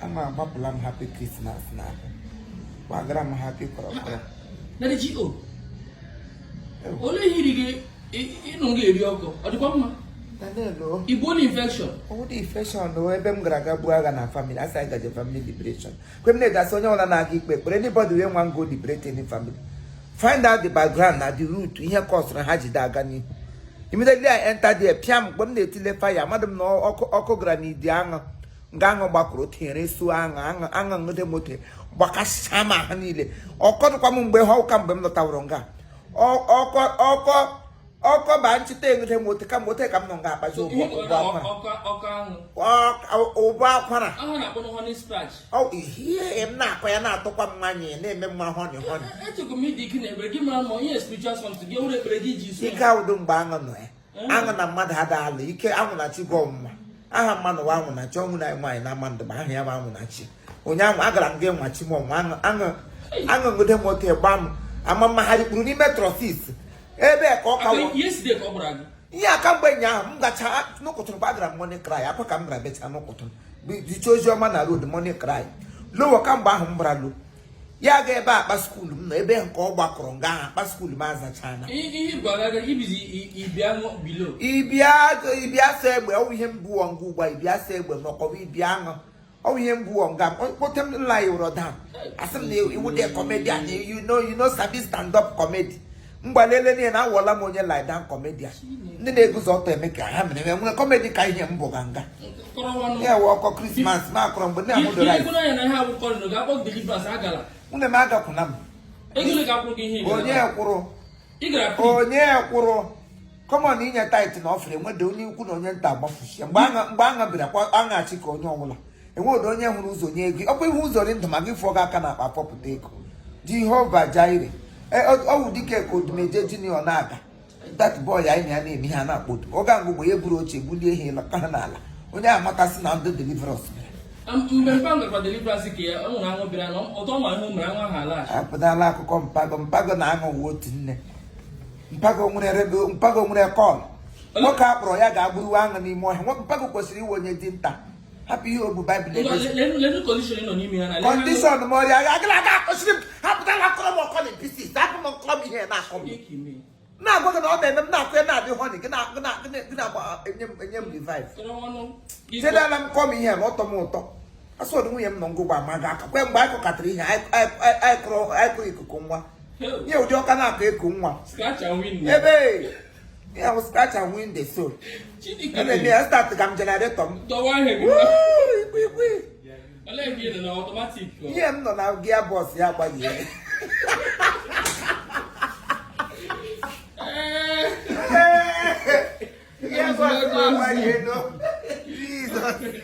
a na-agbapụla m happy Christmas na gbagara m happy kọrọkọrọ olee ihe iri gị ịnụ gị eri ọkụ ọ dịkwa mma Igbo na infection. Ọ dị infection ebe m gara ga buo agha na family, a sị anyị gaje family liberation. Kwemne ga-asị onye ọwụla na-aga ikpe ekpere anybody wey wan go liberate any family find out the background na the root ihe kọsụrụ ha ji ada aga n'ihu immediately I enter there pịam mgbe m na-etile fire amadị m na ọkụ gara n'idi aṅụ nga aṅụ gbakọrọ tinyere su aṅụ aṅụ aṅụ nwude m ote gbakasịcha m ahụ niile ọ kọdụkwa m mgbe ahụ ka mgbe m lọtawụrụ nga ọkọ ọkọ ọkọ ba nchịta enweta mote ka mote ka m nọ nga akpazi ụbọ akwara ihe m na-akọ ya na-atọkwa m nwanyị na-eme mma honey honey ike awụdo mgbe aṅụ nọ ya aṅụ na mmadụ ada ala ike anwụ na chi gị ọmụma aha mmanụ wa anwụ na chi ọ wụ na nwaanyị na ama ndụ ma aha ya bụ anwụ na chi ụnyaahụ agara m gị nwa chi m o aṅụ nwude m ote gba m ama m ma ha rikpuru n'ime trousers ebe ka ọ kawo ihe aka mgbe ụnyaahụ m gacha n'ụkụtụrụ mgbe agara m morning cry akwa ka m gara becha n'ụkụtụrụ zicha ozi ọma na road morning cry lọwa ka mgbe ahụ m gbara lo ya ga ebe akpa school m nọ ebe nke ọ gbakọrọ nga ahụ akpa school m azachana ibia so egbe ọ wụ ihe mbụ ngwa ugbu a ibia so egbe ma ọkọwa ibia aṅụ ọ bụ ihe mbụ o nga kpọte m m lierụ down a sị m na ị wụdị comedian you no you no sabi stand up comedy mgbalele niile na awụla m onye lie down comedian ndị na-eguzo ọtọ eme ka ha mere enwe comedy ka ihe m bụ ga nga ya wụ ọkọ Christmas ma akọrọ mgbe nne m doro anyị nwunye m agakwụna m onye kwụrụ onye kwụrụ common inye tithe na offering enwede onye ukwu na onye nta agbafuchie mgbe aṅa bịara kwa aṅachi ka onye ọbụla enwede onye hụrụ ụzọ nye ego ọkwa ịhụ ụzọ dị ndụ ma gị fụọ gị aka na akpa pọpụta ego Jehovah Jireh ọ wụ dike ka Odumeje junior na-aga that boy anyị na ya na-eme ha na-akpodo oge ahụ mgbe ya buru oche bulie ihe lọta ha n'ala onye amatasị na ndị deliverance mgbe mpa nwekwa deliverance ka ya ọ nwụrụ anwụ bịara na ụtọ nwa ahụ mere nwa ha ala apụtala akụkọ mpago mpago na aṅụ wụ otu nne mpago nwere radio mpago nwere call nwoke a kpọrọ ya ga-agburu aṅụ n'ime ọhịa nwoke mpago kwesịrị ịwụ onye dinta hapụ ihe o bu Bible na-egosi condition m ọrịa ya gịla aga akọsiri m hapụta na akọrọ m ọkọ na peace hapụ m m kọrọ m ihe na-akọ m na-agwa gị na ọ na-eme m na-akọ ya na-adị honey gị na-agba enye m revive chedala m kọọ m ihe na-atọ m ụtọ asọdụ nwunye m nọ ngụgba ma ga aka kwe mgbe anyị kọkatara ihe anyị kụrụ ikuku nwa ihe ụdị ọka na-akụ eku nwa ebe ihe ahụ scratch and win the soul ebe m ya start ka m generator m ihe m nọ na gearbox ya agbaghị ya Yes, what's up, my Jesus.